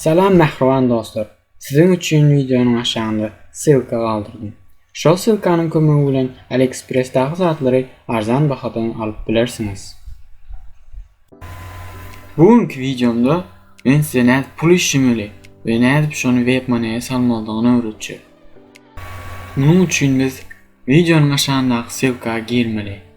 Salam mähriban dostlar! Siziň üçin wideonyň aşagynda ssylka galdyrdym. Şol ssylkanyň kömegi bilen AliExpress-daky zatlary arzan bahadan alyp bilersiňiz. Bu günki wideomda men size nädip pul işlemeli we nädip şony WebMoney-e salmalydygyny öwretjek. Munuň üçin biz wideonyň aşagyndaky ssylka girmeli.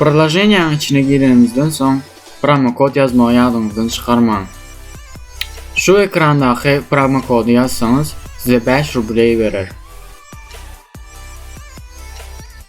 Priloženiýanyň içine girenimizden soň promokod ýazmagy ýadyňyzdan çykarmaň. Şu ekrandaky promokody ýazsaňyz, size 5 rubleý berer.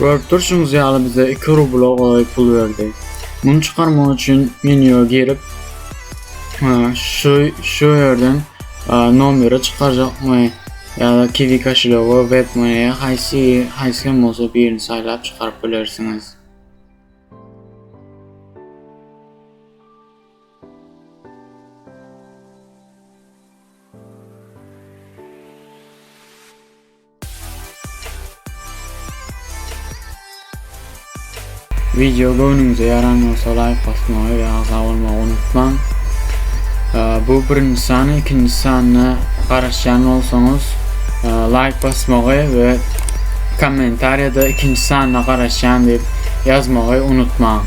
Görüp durşuňyz ýaly bize 2 rubla golaý pul berdi. Muny çykarmak üçin menýa girip şu şu ýerden nomeri çykarjakmy ýa-da kiwi koşelýoga web money haýsy haýsy bolsa birini saýlap çykaryp bilersiňiz. Video göwnüňize ýaran bolsa laýk basmagy we agza bolmagy unutmaň. Bu birinji san, ikinji sanyna garaşýan bolsaňyz, laýk basmagy we kommentariýada ikinji sanyna garaşýan diýip ýazmagy unutmaň.